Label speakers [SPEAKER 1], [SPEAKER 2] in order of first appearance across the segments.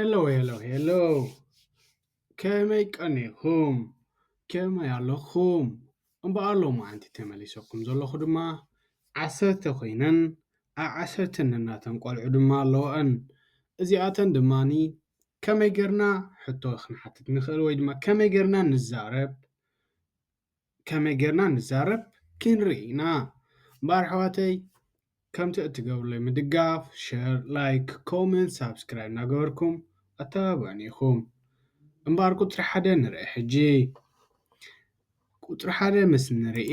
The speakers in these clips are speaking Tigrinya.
[SPEAKER 1] ሄሎ ሄሎ ሄሎ ከመይ ቀኒኹም ከመይ ኣለኹም እምበኣር ሎማዓንቲ ተመሊሰኩም ዘለኹ ድማ ዓሰርተ ኮይነን ኣብ ዓሰርተ ነናተን ቆልዑ ድማ ኣለወኣን እዚኣተን ድማኒ ከመይ ጌርና ሕቶ ክንሓትት ንኽእል ወይ ድማ ከመይ ጌርና ንዛረብ ከመይ ጌርና ንዛረብ ኪንርኢ ኢና እምበኣር ኣሕዋተይ ከምቲ እትገብሩለይ ምድጋፍ ሸር ላይክ ኮመንት ሳብስክራይብ እናገበርኩም ኣተባብዑኒ ኢኹም እምበኣር ቁጽሪ ሓደ ንርኢ ሕጂ ቁጽሪ ሓደ ምስ ንርኢ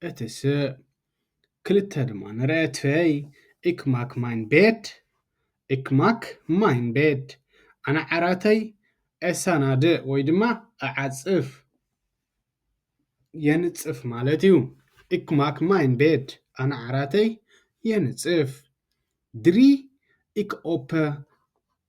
[SPEAKER 1] እቲ ስእ ክልተ ድማ ንረኤትፌይ እክ ማክ ማይን ቤድ እክ ማክ ማይን ቤድ ኣነ ዓራተይ ኤሳናድእ ወይ ድማ እዓጽፍ፣ የንጽፍ፣ ማለት እዩ። እክ ማክ ማይን ቤድ ኣነ ዓራተይ የንጽፍ፣ ድሪ እክ ኦፐ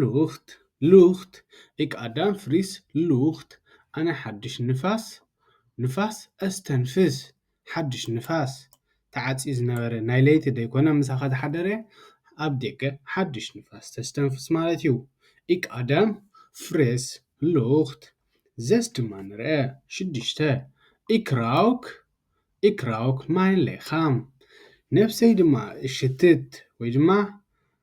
[SPEAKER 1] ሉክት ሉክት እቅ ኣዳም ፍሪስ ሉክት ኣነ ሓድሽ ንፋስ ንፋስ ኣስተንፍስ ሓድሽ ንፋስ ተዓጽዩ ዝነበረ ናይ ለይቲ ደይኮነ ምሳኻ ዝሓደረ ኣብ ደገ ሓድሽ ንፋስ ተስተንፍስ ማለት እዩ እቅ ኣዳም ፍሬስ ሉክት ዘስ ድማ ንርአ ሽዱሽተ ኢክራውክ ኢክራውክ ማይን ለይኻም ነፍሰይ ድማ እሽትት ወይ ድማ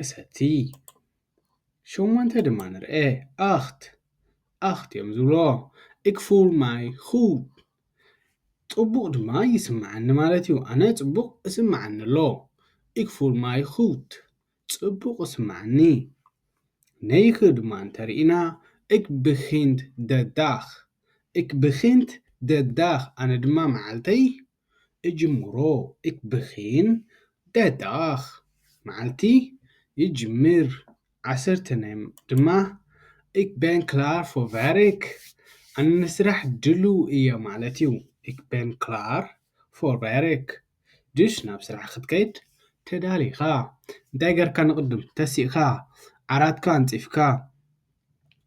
[SPEAKER 1] እሰቲ ሸሞንተ ድማ ንርኤ ኣኽት ኣኽት እዮም ዝብሎ እክፉል ማይ ኹብ ፅቡቕ ድማ ይስምዓኒ ማለት እዩ ኣነ ፅቡቕ እስምዓኒ ኣሎ እክፉል ማይ ኹት ፅቡቕ እስምዓኒ ነይክ ድማ እንተርኢና እክ ብኺንት ደዳኽ እክ ብኺንት ደዳኽ ኣነ ድማ መዓልተይ እጅምሮ እክ ብኪን ደዳኽ መዓልቲ ይጅምር ዓሰርተ ናይ ድማ እክ በን ክላር ፎ ቨርክ ኣን ምስራሕ ድሉው እየ ማለት እዩ እክ በን ክላር ፎ ቨርክ ድሽ ናብ ስራሕ ክትከይድ ተዳሊኻ እንታይ ገርካ ንቕድም ተሲእካ ዓራትካ ኣንጺፍካ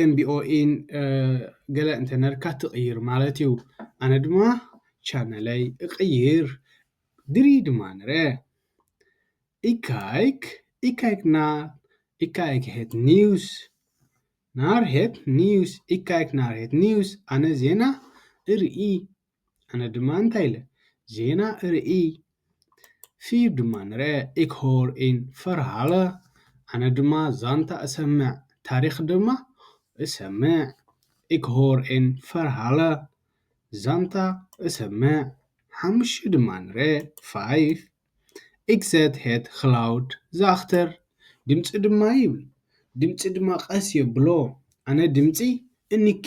[SPEAKER 1] ኤምቢኦኢን ገለ እንተነርካ ትቕይር ማለት እዩ ኣነ ድማ ቻነለይ እቕይር ድሪ ድማ ነረ ኢካይክ ኢካይክና ኢካይክ ሄት ኒውስ ናር ሄት ኒውስ ኢካይክ ናር ሄት ኒውስ ኣነ ዜና እርኢ ኣነ ድማ እንታይ ኢለ ዜና እርኢ ፊብ ድማ ንርኤ ኢክ ሆር ኢን ፈርሃለ ኣነ ድማ ዛንታ እሰምዕ ታሪክ ድማ እሰምዕ ኢክ ሆር ኢን ፈርሃለ ዛንታ እሰምዕ ሓሙሽተ ድማ ንርኤ ፋይፍ ኢክ ዘት ሄት ክላውድ ዘኣክተር ድምጺ ድማ ይብል ድምጺ ድማ ቀስ የብሎ ኣነ ድምጺ እንኪ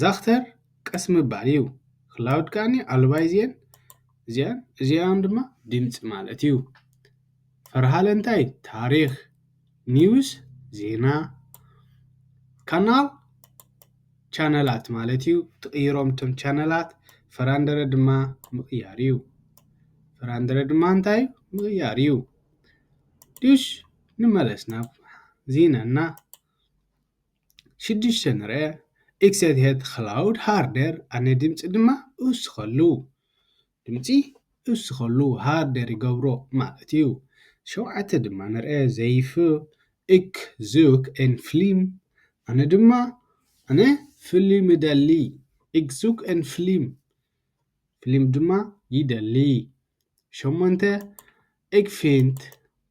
[SPEAKER 1] ዛክተር ቀስ ምባል እዩ ክላውድ ከኣኒ ኣሉባይ እዚኤን እዚኣን እዚኣን ድማ ድምፂ ማለት እዩ ፈርሃለ እንታይ ታሪክ ኒውስ ዜና ካናል ቻነላት ማለት እዩ ትቕይሮም እቶም ቻነላት ፈራንደረ ድማ ምቕያር እዩ ፍራንድረ ድማ እንታይ ምቕያር እዩ ድሽ ንመለስ ናብ ዜናና ሽዱሽተ-ንረ፣ Excited Cloud Harder፣ ኣነ ድምጺ ድማ እውስኸሉ፣ ድምጺ እውስኸሉ፣ ሃርደር ይገብሮ ማለት እዩ። ሸውዓተ ድማ ንረ፣ ዘይፍ፣ እክ፣ ዙክ፣ ኤን ፍሊም፣ ኣነ ድማ ኣነ ፍሊም እደሊ፣ እክ፣ ዙክ፣ ኤን ፍሊም፣ ፍሊም ድማ ይደሊ። ሸሞንተ፣ እግፊንት፣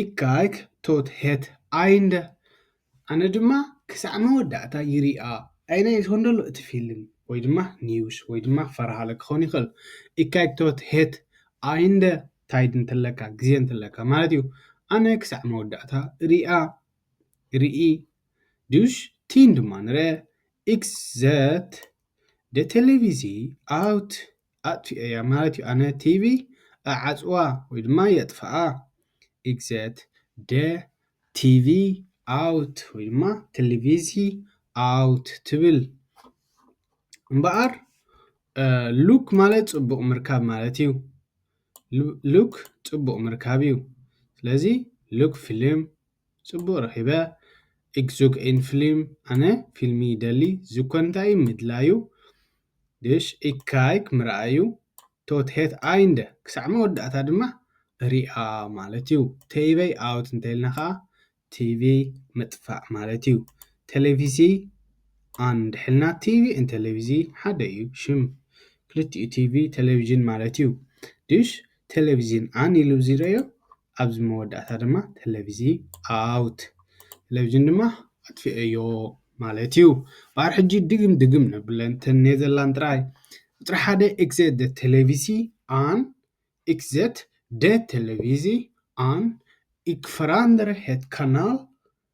[SPEAKER 1] ኢካይክ ቶት ሄት ኣይንደ ኣነ ድማ ክሳዕ መወዳእታ ይሪኣ ኣይ ናይ ዝኾን ደሎ እቲ ፊልም ወይ ድማ ኒውስ ወይ ድማ ፈርሃለ ክኾን ይኽእል ኢካይክ ቶት ሄት ኣይንደ ታይድ እንተለካ ግዜ እንተለካ ማለት እዩ ኣነ ክሳዕ መወዳእታ ሪኣ ርኢ ዱሽ ቲን ድማ ንረ ኢክስ ዘት ደ ቴሌቪዚ ኣውት ኣጥፊኤያ ማለት እዩ ኣነ ቲቪ እዓጽዋ ወይ ድማ የጥፍኣ ኢግዜት ደ ቲቪ ኣውት ወይ ድማ ቴሌቪዚ ኣውት ትብል እምበኣር ሉክ ማለት ጽቡቕ ምርካብ ማለት እዩ ሉክ ጽቡቕ ምርካብ እዩ ስለዚ ሉክ ፊልም ጽቡቕ ረኺበ ኢግዙግ ኢን ፊልም ኣነ ፊልሚ ይደሊ ዝኮ እንታይ እዩ ምድላዩ ዴሽ እይ ካይክ ምርኣዩ ቶት ሄት ኣይንደ ክሳዕ መወዳእታ ድማ ሪኣ ማለት እዩ። ቴይቨይ ኣውት እንተይልና ከኣ ቲቪ ምጥፋእ ማለት እዩ። ቴሌቪዚ ኣን እንድሕልና ቲቪ እን ቴሌቪዚ ሓደ እዩ ሽም ክልቲኡ ቲቪ ቴሌቪዥን ማለት እዩ። ዴሽ ቴሌቪዚን ኣን ኢሉ እብዚ ረእዮ ኣብዚ መወዳእታ ድማ ተለቪዚ ኣውት ተለቪዥን ድማ ኣጥፊኤዮ ማለት እዩ ባር ሕጂ ድግም ድግም ነብለን ተን ኔዘርላንድ ጥራይ ቁፅሪ ሓደ ኤክዘት ደ ተለቪሲ ኣን ኤክዘት ደ ተለቪዚ ኣን ኢክ ፈራንደር ሄት ካናል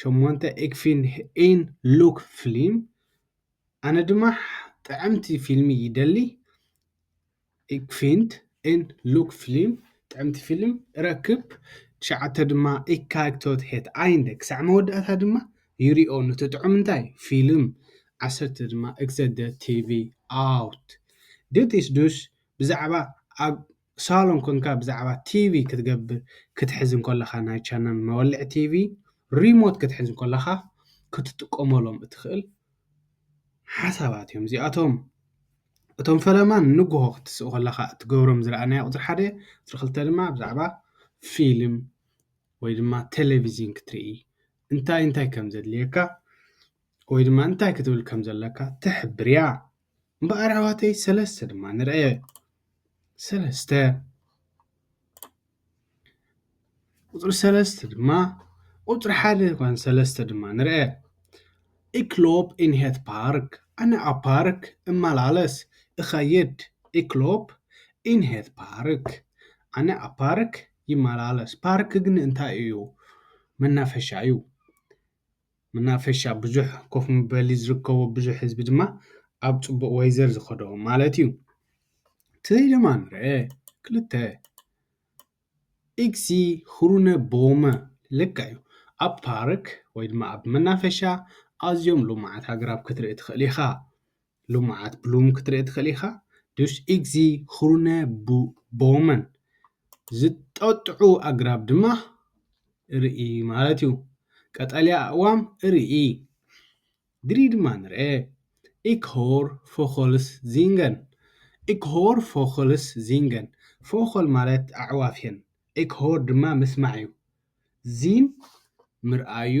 [SPEAKER 1] ሸሞንተ ኢክ ፊን ን ሉክ ፍሊም ኣነ ድማ ጥዕምቲ ፊልሚ ይደሊ ኢክ ፊንት ን ሉክ ፍሊም ጥዕምቲ ፊልም እረክብ ትሽዓተ ድማ ኢክ ካይክቶት ሄት ኣይንደ ክሳዕ መወዳእታ ድማ ይሪኦ ኑቲ ጥዑም እንታይ ፊልም ዓሰርተ ድማ እግዘ ደ ቲቪ ኣውት ዲት ኢስ ዱስ ብዛዕባ ኣብ ሳሎን ኮንካ ብዛዕባ ቲቪ ክትገብር ክትሕዝ እንኮለኻ ናይ ቻነል መወልዒ ቲቪ ሪሞት ክትሕዝ እንኮለኻ ክትጥቀመሎም እትኽእል ሓሳባት እዮም እዚኣቶም እቶም ፈለማ ንጉሆ ክትስእ ከለኻ እትገብሮም ዝረኣናዮ ቁፅሪ ሓደ ቁፅሪ ክልተ ድማ ብዛዕባ ፊልም ወይ ድማ ቴሌቪዥን ክትርኢ እንታይ እንታይ ከም ዘድልየካ ወይ ድማ እንታይ ክትብል ከም ዘለካ ትሕብር እያ እምበኣር ኣሕዋተይ ሰለስተ ድማ ንርአ ሰለስተ ቁፅሪ ሰለስተ ድማ ቁፅሪ ሓደ ይኾን ሰለስተ ድማ ንርአ ኢክሎፕ ኢንሄት ፓርክ ኣነ ኣብ ፓርክ እመላለስ እኸይድ ኢክሎፕ ኢንሄት ፓርክ ኣነ ኣብ ፓርክ ይመላለስ ፓርክ ግን እንታይ እዩ መናፈሻ እዩ መናፈሻ ብዙሕ ኮፍ መበሊ ዝርከቦ ብዙሕ ህዝቢ ድማ ኣብ ፅቡቅ ወይዘር ዝከዶ ማለት እዩ ትይ ድማ ንርአ ክልተ ኢክሲ ሁሩነ ቦመ ልካ እዩ ኣብ ፓርክ ወይ ድማ ኣብ መናፈሻ ኣዝዮም ሉማዓት ኣግራብ ክትርኢ ትክእል ኢካ። ልሙዓት ብሉም ክትርኢ ትኽእል ኢኻ። ዱስ ኢግዚ ኹሩነ ቦመን ዝጠጥዑ ኣግራብ ድማ እርኢ ማለት እዩ። ቀጠልያ ኣእዋም እርኢ። ግሪ ድማ ንርኤ። ኢክ ሆር ፎኸልስ ዚንገን ኢክ ሆር ፎኸልስ ዚንገን ፎኸል ማለት ኣዕዋፍ እየን። ኢክ ሆር ድማ ምስማዕ እዩ። ዚን ምርኣይ እዩ።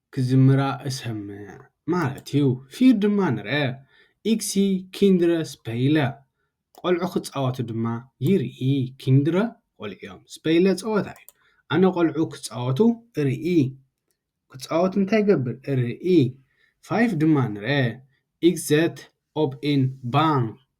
[SPEAKER 1] ክዝምራ እሰምዕ ማለት እዩ ፊር ድማ ንርኤ ኢግሲ ኪንድረ ስፐይለ ቆልዑ ክጻወቱ ድማ ይርኢ ኪንድረ ቆልዑ እዮም ስፐይለ ጸወታ እዩ ኣነ ቆልዑ ክጻወቱ እርኢ ክጻወቱ እንታይ ይገብር እርኢ ፋይፍ ድማ ንርኤ ኢግዘት ኦብ ኢን ባን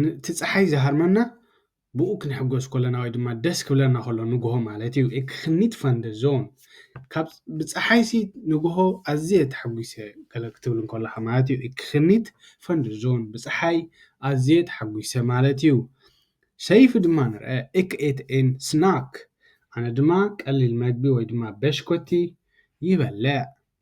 [SPEAKER 1] ን እቲ ጸሓይ ዝሃርመና ብኡ ክንሕጎስ ኮለና ወይ ድማ ደስ ክብለና ከሎ ንግሆ ማለት እዩ ክክኒት ፋንደ ዞን ካብ ብጸሓይሲ ንግሆ ኣዝየ ተሓጒሰ ገለ ክትብል እንከለኻ ማለት እዩ ክክኒት ፋንደ ዞን ብጸሓይ ኣዝየ ተሓጒሰ ማለት እዩ ሰይፊ ድማ ንርአ እክ ኤት ኤን ስናክ ኣነ ድማ ቀሊል መግቢ ወይ ድማ በሽኮቲ ይበልዕ።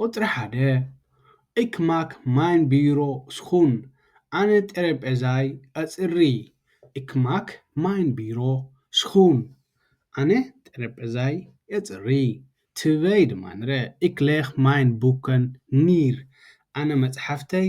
[SPEAKER 1] ቁጽሪ ሓደ እክ ማክ ማይን ብይሮ ስኩን ኣነ ጠረጴዛይ ኣጽሪ እክ ማክ ማይን ብይሮ ስኩን ኣነ ጠረጴዛይ ኣጽሪ ትበይ ድማ ንረ እክ ሌክ ማይን ቡከን ኒር ኣነ መጽሓፍተይ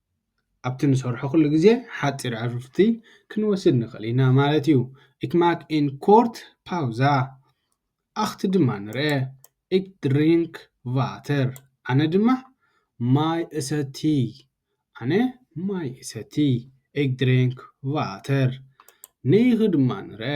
[SPEAKER 1] ኣብቲ ንሰርሖ ኩሉ ግዜ ሓጺር ዕርፍቲ ክንወስድ ንኽእል ኢና ማለት እዩ። Ik maak een kort pauze. ኣኽቲ ድማ ንርኤ። Ik drink water. ኣነ ድማ ማይ እሰቲ። ኣነ ማይ እሰቲ። Ik drink water. ንይኺ ድማ ንርኤ።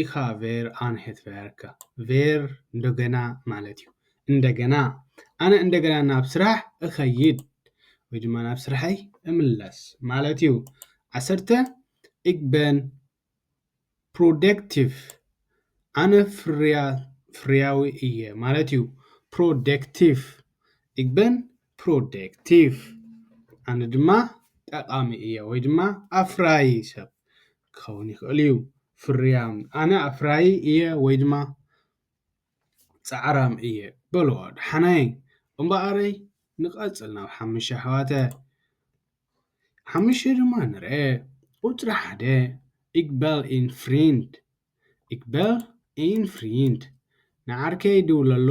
[SPEAKER 1] ኢኻ ቬር ኣንሄት ቨርካ ቬር እንደገና ማለት እዩ እንደገና ኣነ እንደገና ናብ ስራሕ እኸይድ ወይ ድማ ናብ ስራሐይ እምለስ ማለት እዩ ዓሰርተ ik ben productive ኣነ ፍርያዊ እየ ማለት እዩ ፕሮደክቲቭ ik ben productive ኣነ ድማ ጠቓሚ እየ ወይ ድማ ኣፍራዪ ሰብ ክኸውን ይኽእል እዩ ፍርያም ኣነ ኣፍራዪ እየ ወይ ድማ ጻዕራም እየ በሎ ደሓናይ እምበኣረይ ንቐጽል ናብ ሓሙሽተ ኣሕዋተ ሓሙሽተ ድማ ንርአ ቁጽሪ ሓደ ኢግበል ኢን ፍሪንድ ኢግበል ኢን ፍሪንድ ንዓርከይ ድውለሉ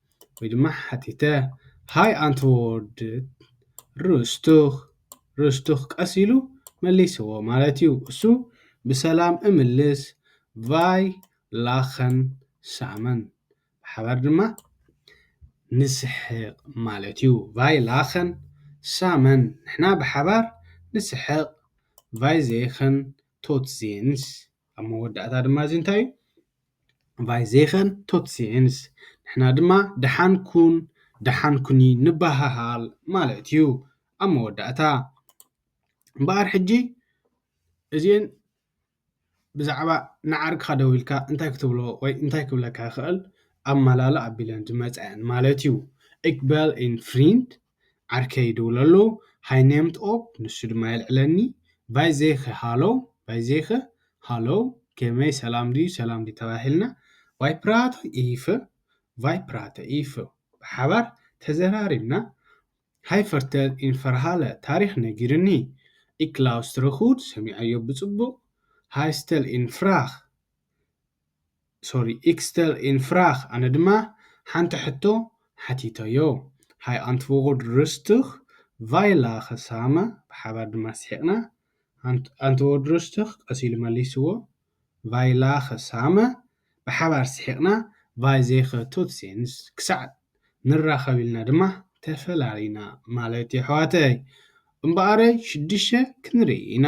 [SPEAKER 1] ወይ ድማ ሓቲተ ሃይ ኣንትዎርድ ሩስቱኽ ሩስቱኽ ቀስ ኢሉ መልስዎ ማለት እዩ እሱ ብሰላም እምልስ ቫይ ላኸን ሳመን ብሓባር ድማ ንስሕቕ ማለት እዩ ቫይ ላኸን ሳመን ንሕና ብሓባር ንስሕቕ ቫይ ዜኸን ቶት ዜንስ ኣብ መወዳእታ ድማ እዚ እንታይ እዩ ቫይ ዜኸን ቶትሲንስ፣ ንሕና ድማ ደሓን ኩን ደሓን ኩኒ ንበሃሃል ማለት እዩ። ኣብ መወዳእታ እምበኣር ሕጂ እዚኤን ብዛዕባ ንዓርክኻ ደዊልካ እንታይ ክትብሎ ወይ እንታይ ክብለካ ይኽእል ኣማላሎ ኣቢለን ዝመጻ እየን ማለት እዩ። እክ በል እን ፍሪንድ ዓርከይ ይድውል ኣሎ፣ ሃይ ነምት ኦፕ፣ ንሱ ድማ የልዕለኒ፣ ቫይ ዜኸ፣ ሃሎው፣ ቫይ ዜኸ፣ ሃሎው፣ ከመይ፣ ሰላም ድዩ፣ ሰላም ድዩ ተባሂልና፣ ቫይ ፕራተ ኢፈ፣ ቫይ ፕራተ ኢፈ፣ ብሓባር ተዘራሪብና፣ ሃይ ፈርተል ኢን ፈርሃለ ታሪኽ ነጊሩኒ፣ ኢክ ላውስትረ ጉድ፣ ሰሚዐዮ ብጽቡቕ፣ ሃይ ስተል ኢን ፍራኽ፣ ሶሪ ኢክስተር ኢን ፍራክ ኣነ ድማ ሓንቲ ሕቶ ሓቲተዮ ሃይ ኣንትዎርድ ሩስቱክ ቫይ ላከ ሳመ ብሓባር ድማ ስሒቅና ኣንትዎርድ ሩስቱክ ቀስ ኢሉ መሊስዎ ቫይ ላከ ሳመ ብሓባር ስሒቅና ቫይ ዘይከ ቶት ሴንስ ክሳዕ ንራከብ ኢልና ድማ ተፈላሊና ማለት የሕዋተይ እምበኣረይ ሽዱሽተ ክንርኢ ኢና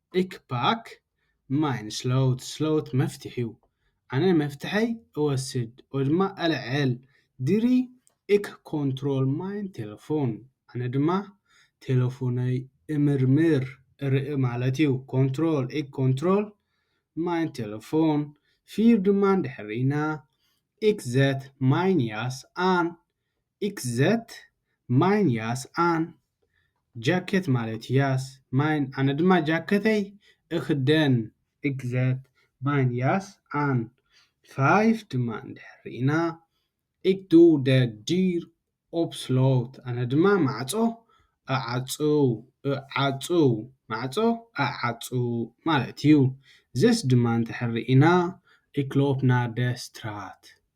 [SPEAKER 1] ዒክ ፓክ ማይን ስሎውት ስሎውት መፍትሒው ኣነ መፍትሐይ እወስድ ኦድማ ኣልዐል ዲሪ ዒክ ኮንትሮል ማይን ቴለፎን ኣነ ድማ ቴለፎነይ እምርምር እርኢ ማለትዩ ኮንትሮል ዒክ ኮንትሮል ማይን ቴለፎን ፊር ድማን ድሕሪና ዒክ ዘት ማይን ያስ ኣን ኢክዘት ማይን ያስ ኣን ጃኬት ማለት ያስ ማይን ኣነ ድማ ጃከተይ እክደን። ኢክዘት ማይን ያስ ኣን ፋይፍ ድማ እንድሕር ርኢና፣ ኢክ ዱ ደ ዲር ኦፕስሎት ኣነ ድማ ማዕጾ እዓጹው፣ እዓጹው ማዕጾ እዓጹ ማለት እዩ። ዘስ ድማ እንድሕር ርኢና፣ ኢክ ሎፕ ናር ደ ስትራት።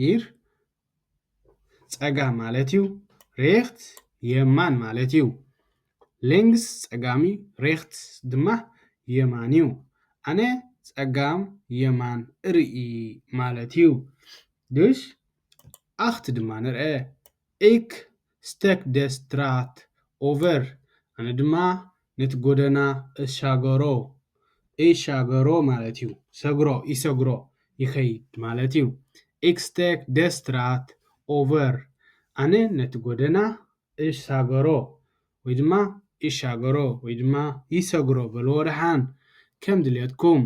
[SPEAKER 1] ሂር ጸጋም ማለት እዩ። ሬክት የማን ማለት እዩ። ሌንግስ ጸጋም እዩ። ሬክት ድማ የማን እዩ። ኣነ ጸጋም የማን እርኢ ማለት እዩ። ድሽ ኣክት ድማ ንርኤ። ኢክ ስተክ ደ ስትራት ኦቨር፣ ኣነ ድማ ነቲ ጎደና እሻገሮ፣ እይ ሻገሮ ማለት እዩ፣ ሰግሮ፣ ይሰግሮ፣ ይኸይድ ማለት እዩ። ኢክ ስተክ ደ ስትራት ኦቨር፣ ኣነ ነቲ ጎደና እሻገሮ፣ ወይ ድማ ይሻገሮ፣ ወይ ድማ ይሰግሮ በልዎ ደሓን ከም ድሌትኩም።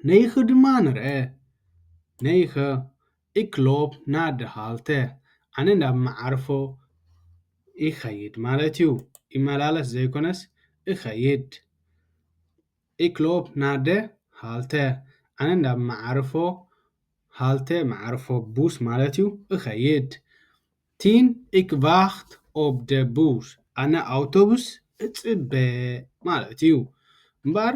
[SPEAKER 1] ነይክ ድማ ንርኣ ነይከ ኢክሎፕ ናደ ሃልተ ኣነ ናብ መዓርፎ ይኸይድ ማለት እዩ ይመላለስ ዘይኮነስ እኸይድ ኢክሎፕ ናደ ሃልተ ኣነ ናብ መዓርፎ ሃልተ መዓርፎ ቡስ ማለት እዩ እኸይድ ቲን ኢክቫክት ኦብደ ቡስ ኣነ ኣውቶቡስ እጽበ ማለት እዩ እምበኣር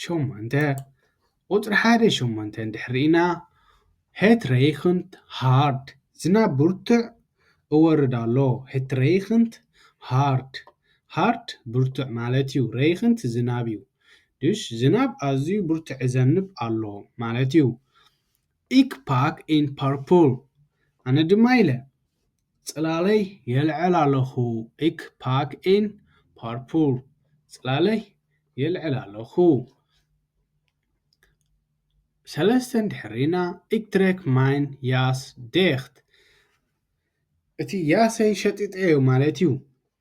[SPEAKER 1] ሸሞንተ፣ ቁጽሪ ሓደ ሸሞንተ እንድሕር ርኢና፣ ሄት ረይኽንት ሃርድ፣ ዝናብ ብርቱዕ እወርድ ኣሎ፣ ሄት ረይኽንት ሃርድ፣ ሃርድ ብርቱዕ ማለት እዩ፣ ረይኽንት ዝናብ እዩ፣ ድሽ ዝናብ ኣዝዩ ብርቱዕ እዘንብ ኣሎ ማለት እዩ። ኢክ ፓክ ኢን ፐርፕል፣ ኣነ ድማ ኢለ። ጽላለይ የልዕል ኣለኹ ኢክ ፓክ ኢን ፓርፑል ጽላለይ የልዕል ኣለኹ ሰለስተን ድሕሪና ኢክ ትሬክ ማይን ያስ ዴክት እቲ ያሰይ ሸጢጠዮ ማለት እዩ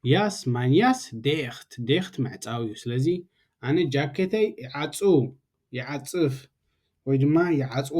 [SPEAKER 1] ያስ ማይን ያስ ዴክት ዴክት ምዕጻው እዩ ስለዚ ኣነ ጃኬተይ ይዓጹ ይዓጽፍ ወይ ድማ ይዓጽዎ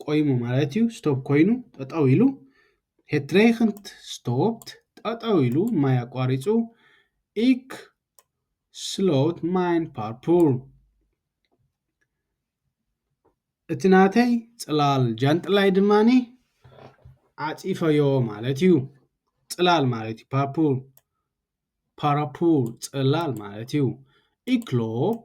[SPEAKER 1] ቆይሙ ማለት እዩ ስቶፕ ኮይኑ ጠጠው ኢሉ ሄትሬክንት ስቶፕት ጠጠው ኢሉ ማይ ኣቋሪፁ ኢክ ስሎት ማይን ፓርፑር እቲ ናተይ ፅላል ጃንጥላይ ድማኒ ዓፂፈዮ ማለት እዩ ፅላል ማለት እዩ ፓርፑር ፓራፑር ፅላል ማለት እዩ ኢክሎፕ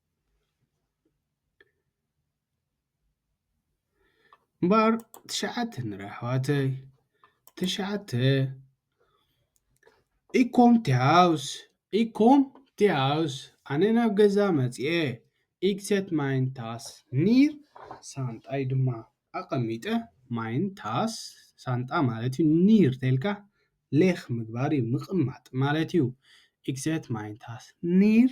[SPEAKER 1] እምበኣር ትሽዓተ ንርኢ ኣሕዋተይ ትሽዓተ ኢኮም ቲሃውስ ኢኮም ቲሃውስ ኣነ ናብ ገዛ መፂአ ኢክሴት ማይን ታስ ኒር ሳንጣይ ድማ ኣቀሚጠ ማይን ታስ ሳንጣ ማለት እዩ ኒር ተይልካ ሌኽ ምግባር እዩ ምቅማጥ ማለት እዩ ኢክሴት ማይን ታስ ኒር።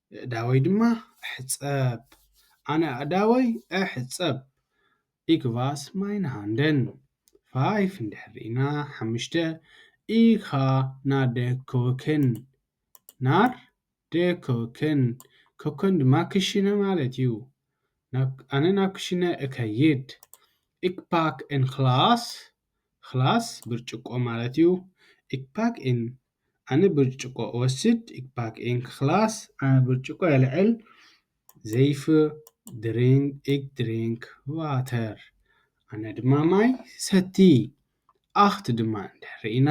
[SPEAKER 1] የእዳወይ ድማ እሕጸብ። ኣነ ኣእዳወይ እሕጸብ። ኢክ ቫስ ማይነ ሃንደን። ፋይፍ እንድሕር ርኢና ሓምሽተ ኢካ ናር ደ ኮከን። ናር ደ ኮከን። ኮከን ድማ ክሽነ ማለት እዩ። ኣነ ናብ ክሽነ እከይድ። ኢክ ፓክ ኤን ክላስ። ክላስ ብርጭቆ ማለት እዩ። ኢክ ፓክ ኤን ኣነ ብርጭቆ እወስድ እክ ባክ እን ክክላስ። ኣነ ብርጭቆ የልዕል ዘይፍ ድሪን እክ ድሪንክ ዋተር። ኣነ ድማ ማይ ሰቲ ኣክት ድማ እንድሕ ርኢና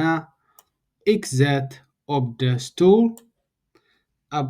[SPEAKER 1] እክ ዘት ኦብ ደ ስቱል ኣብ።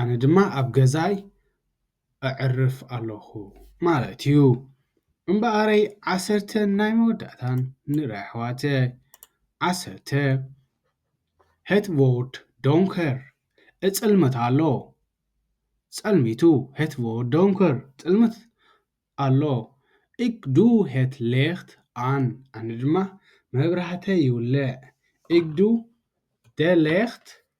[SPEAKER 1] ኣነ ድማ ኣብ ገዛይ ኣዕርፍ ኣሎኹ ማለት እዩ። እምበኣረይ ዓሰርተ ናይ መወዳእታን ንራ ኣሕዋተ ዓሰርተ ሄት ቮርድ ዶንከር እጽልመት ኣሎ ጸልሚቱ ሄት ቮርድ ዶንከር ጽልምት ኣሎ እግ ዱ ሄት ሌክት ኣን ኣነ ድማ መብራህተይ ይውልዕ እግ ዱ ደ ሌክት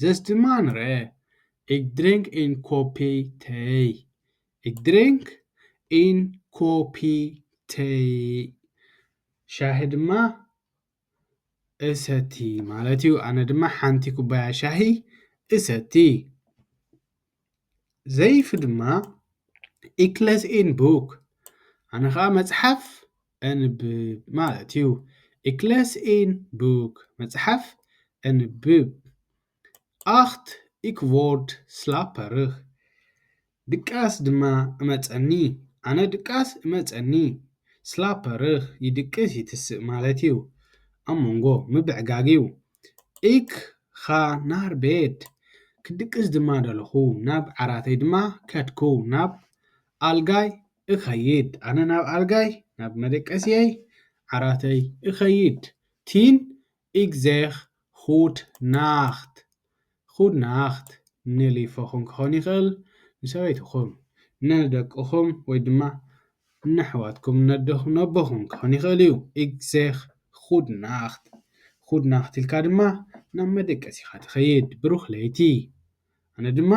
[SPEAKER 1] ዘስትማንረ እግ ድሬንክ ኢን ኮፒ ተይ እግ ድሬንክ ኢን ኮፒ ተይ ሻሂ ድማ እሰቲ ማለት እዩ ኣነ ድማ ሓንቲ ኩባያ ሻሂ እሰቲ። ዘይፍ ድማ ኢክለስ ን ቡክ ኣነ ኸዓ መጽሓፍ ኣንብ ማለት እዩ ኢክለስ ን ቡክ መጽሓፍ ኣንብ ኣክት ኢክቮርድ ስላፐርኽ ድቃስ ድማ እመጸኒ ኣነ ድቃስ እመጸኒ ስላፐርኽ ይድቅስ ይትስእ ማለት እዩ ኣብ መንጎ ምብዕጋግ እዩ እካ ናር ቤት ክድቅስ ድማ ደለኹ ናብ ዓራተይ ድማ ከድኩ ናብ ኣልጋይ እኸይድ ኣነ ናብ ኣልጋይ ናብ መደቀስየይ ዓራተይ እኸይድ ቲን እግዜኽ ኹድ ናኽት ኹድ ናክት ን ሊፎኹም ክኾን ይኽእል ን ሰበይትኹም ን ደቅኹም ወይ ድማ ን ኣሕዋትኩም ን ኣደኹም ን ኣቦኹም ክኾን ይኽእል እዩ ኢግ ዜክ ኹድ ናክት ኹድ ናክት ኢልካ ድማ ናብ መደቀሲኻ ትኸይድ ብሩኽ ለይቲ ኣነ ድማ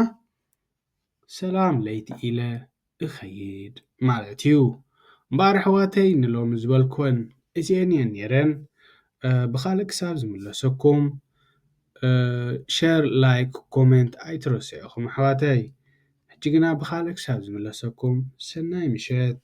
[SPEAKER 1] ሰላም ለይቲ ኢለ እኸይድ ማለት እዩ። እምበኣር ኣሕዋተይ ንሎሚ ዝበልክወን እዚኤን እየን ነይረን። ብኻልእ ክሳብ ዝምለሰኩም ሸር ላይክ ኮሜንት ኣይትረስዑ ኢኹም ኣሕዋተይ። ሕጂ ግና ብኻልእ ክሳብ ዝምለሰኩም ሰናይ ምሸት።